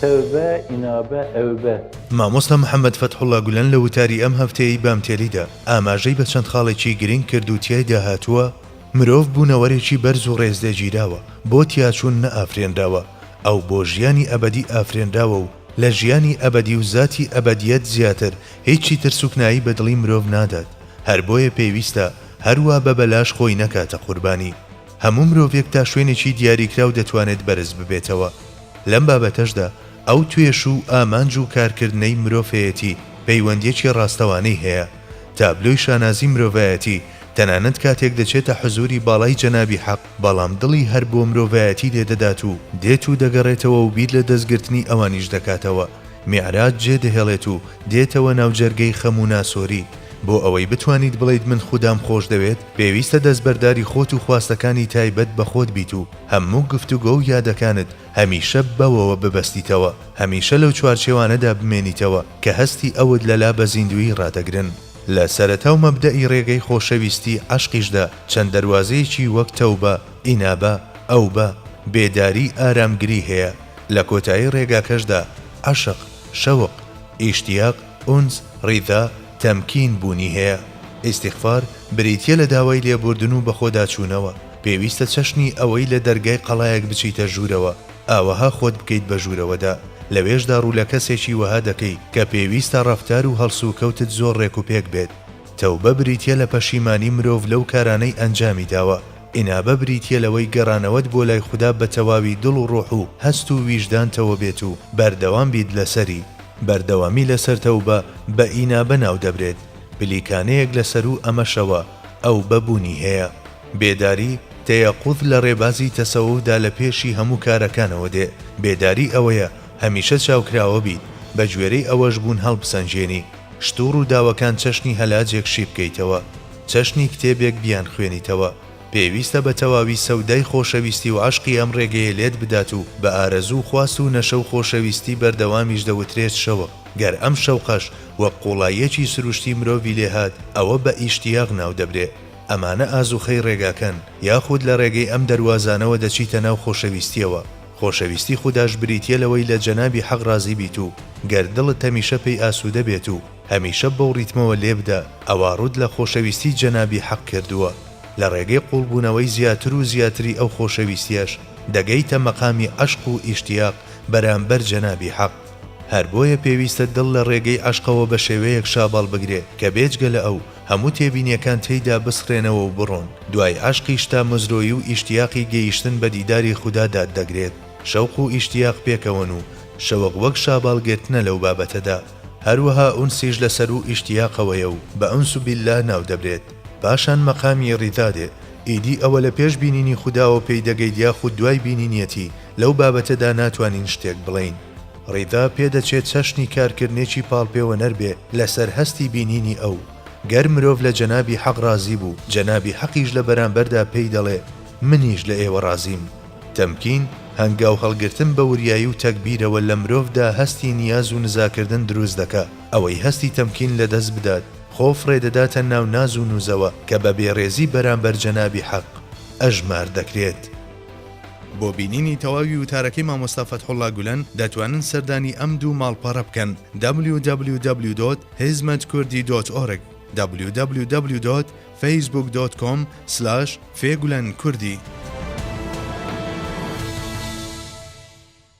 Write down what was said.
تەوبە ئینابە ئەوبە. مامۆستا محەمەد فەتحوڵا گولەن لە وتاری ئەم هەفتەیەی بامتێلیدا ئاماژەی بە چەند خاڵێکی گرنگ کرد و تیایدا هاتووە، مرۆڤ بوونەوەرێکی بەرز و ڕێزلێگیراوە، بۆ تیاچوون نەئافرێنراوە، ئەو بۆ ژیانی ئەبەدی ئافرێنراوە و لە ژیانی ئەبەدی و زاتی ئەبەدیەت زیاتر هیچی تر سوکنایی بە دڵی مرۆڤ نادات، هەر بۆیە پێویستە هەروا بە بەلاش خۆی نەکاتە قوربانی. هەموو مرۆڤێک تا شوێنێکی دیاریکراو دەتوانێت بەرز ببێتەوە. لەم بابەتەشدا ئەو توێش و ئامانج و کارکردنەی مرۆڤەیەتی پەیوەندیەکی ڕاستەوانەی هەیە. تابلۆی شانازی مرۆڤایەتی تەنانەت کاتێک دەچێتە حزوری باڵای جەنابی حەق، بەڵام دڵی هەر بۆ مرۆڤایەتی لێ دەدات و دێت و دەگەڕێتەوە و بیر لە دەستگرتنی ئەوانیش دەکاتەوە، میعراج جێ دەهێڵێت و دێتەوە ناو جەرگەی خەم و ناسۆری، بۆ ئەوەی بتوانیت بڵێیت من خودام خۆش دەوێت، پێویستە دەستبەرداری خۆت و خواستەکانی تایبەت بە خۆت بیت و هەموو گفتوگۆ و یادەکانت هەمیشە بەوەوە ببەستیتەوە، هەمیشە لەو چوارچێوانەدا بمێنیتەوە کە هەستی ئەوت لەلا بە زیندوویی ڕادەگرن. لە سەرەتاو مەبدەئی ڕێگەی خۆشەویستی عەشقیشدا چەند دەروازەیەکی وەک تەوبە، ئینابە، ئەوبە، بێداری، ئارامگری هەیە، لە کۆتایی ڕێگاکەشدا عەشق، شەوق، ئیشتیاق، ئونس، ڕیدا، تەمکین، بوونی هەیە. ئیستیغفار بریتیە لە داوای لێبوردن و بەخۆداچوونەوە، پێویستە چەشنی ئەوەی لە دەرگای قەڵایەک بچیتە ژوورەوە، ئاوەها خۆت بکەیت بە ژوورەوەدا، لەوێشدا ڕوو لە کەسێکی وەها دەکەی کە پێویستە ڕەفتار و هەڵسوکەوتت زۆر ڕێک و پێک بێت. تەوبە بریتیە لە پەشیمانی مرۆڤ لەو کارانەی ئەنجامی داوە، ئینابە بریتیە لەوەی گەڕانەوەت بۆ لای خودا بە تەواوی دڵ و ڕۆح و هەست و ویژدانتەوە بێت و بەردەوام بیت لەسەری. بەردەوامی لەسەر تەوبە بە ئینابە ناو دەبرێت، پلیکانەیەک لە سەروو ئەمەشەوە ئەوبە بوونی هەیە. بێداری، تەیەقوز، لە ڕێبازی تەسەوفدا لە پێشی هەموو کارەکانەوە دێ، بێداری ئەوەیە هەمیشە چاوکراوە بیت، بەگوێرەی ئەوەش بوون هەڵبسەنگێنی، شت و ڕووداوەکان چەشنی هەلاجێک شی بکەیتەوە، چەشنی کتێبێک بیانخوێنیتەوە، پێویستە بە تەواوی سەودای خۆشەویستی و عەشقی ئەم ڕێگەیە لێت بدات و بە ئارەزوو و خواست و نەشە و خۆشەویستی بەردەوامیش دەوترێت شەوق، گەر ئەم شەوقەش وەک قوڵاییەکی سروشتی مرۆڤی لێ هات ئەوە بە ئیشتیاق ناو دەبرێ. ئەمانە ئازوخەی ڕێگاکەن، یاخود لە ڕێگەی ئەم دەروازانەوە دەچیتە ناو خۆشەویستیەوە، خۆشەویستی خوداش بریتیە لەوەی لە جەنابی حەق ڕازی بیت و گەر دڵت هەمیشە پێی ئاسودە بێت و هەمیشە بەو ڕیتمەوە لێبدە ئەوا ڕوت لە خۆشەویستی جەنابی حەق کردووە لە ڕێگەی قوڵبونەوەی زیاتر و زیاتری ئەو خۆشەویستیەش دەگەیتە مەقامی عەشق و ئیشتیاق بەرامبەر جەنابی حەق هەر بۆیە پێویستە دڵ لە ڕێگەی عەشقەوە بە شێوەیەک شاباڵ بگرێ کە بێجگە لە ئەو هەموو تێبینیەکان تێیدا بسڕێنەوە و بڕۆن، دوای عەشقیش تا مزرۆی و ئیشتیاقی گەیشتن بە دیداری خودا دات دەگرێت، شەوق و ئیشتیاق پێکەوەن و شەوق وەک شاباڵ گرتنە لەو بابەتەدا، هەروەها ئونسیش لە سەروو ئیشتیاقەوەیە و بە ئونس باللە ناودەبرێت، پاشان مەقامی ریدا دێت، ئیدی ئەوە لە پێش بینینی خوداوە پێی دەگەیت یاخود دوای بینینیەتی، لەو بابەتەدا ناتوانین شتێک بڵێین. ڕیدا پێدەچێت چەشنی کارکردنێکی پاڵپێوەنەر بێ لەسەر هەستی بینینی ئەو، گەر مرۆڤ لە جەنابی حەق ڕازی بوو، جەنابی حەقیش لە بەرامبەردا پێی دەڵێ، منیش لە ئێوە ڕازیم. تەمکین، هەنگاو هەڵگرتن بە وریایی و تەگبیرەوە لە مرۆڤدا هەستی نیاز و نزاکردن دروست دەکا، ئەوەی هەستی تەمکین لە دەست بدات، خۆ فڕێ دەداتە ناو ناز و نووزەوە کە بە بێڕێزی بەرامبەر جەنابی حەق ئەژمار دەکرێت. بۆ بینینی تەواوی وتارەکەی مامۆستا فەتحوڵا گولەن دەتوانن سەردانی ئەم دوو ماڵپەڕە بکەن www.hizmetkurdidot'org www.facebook.com/fegulankurdhi.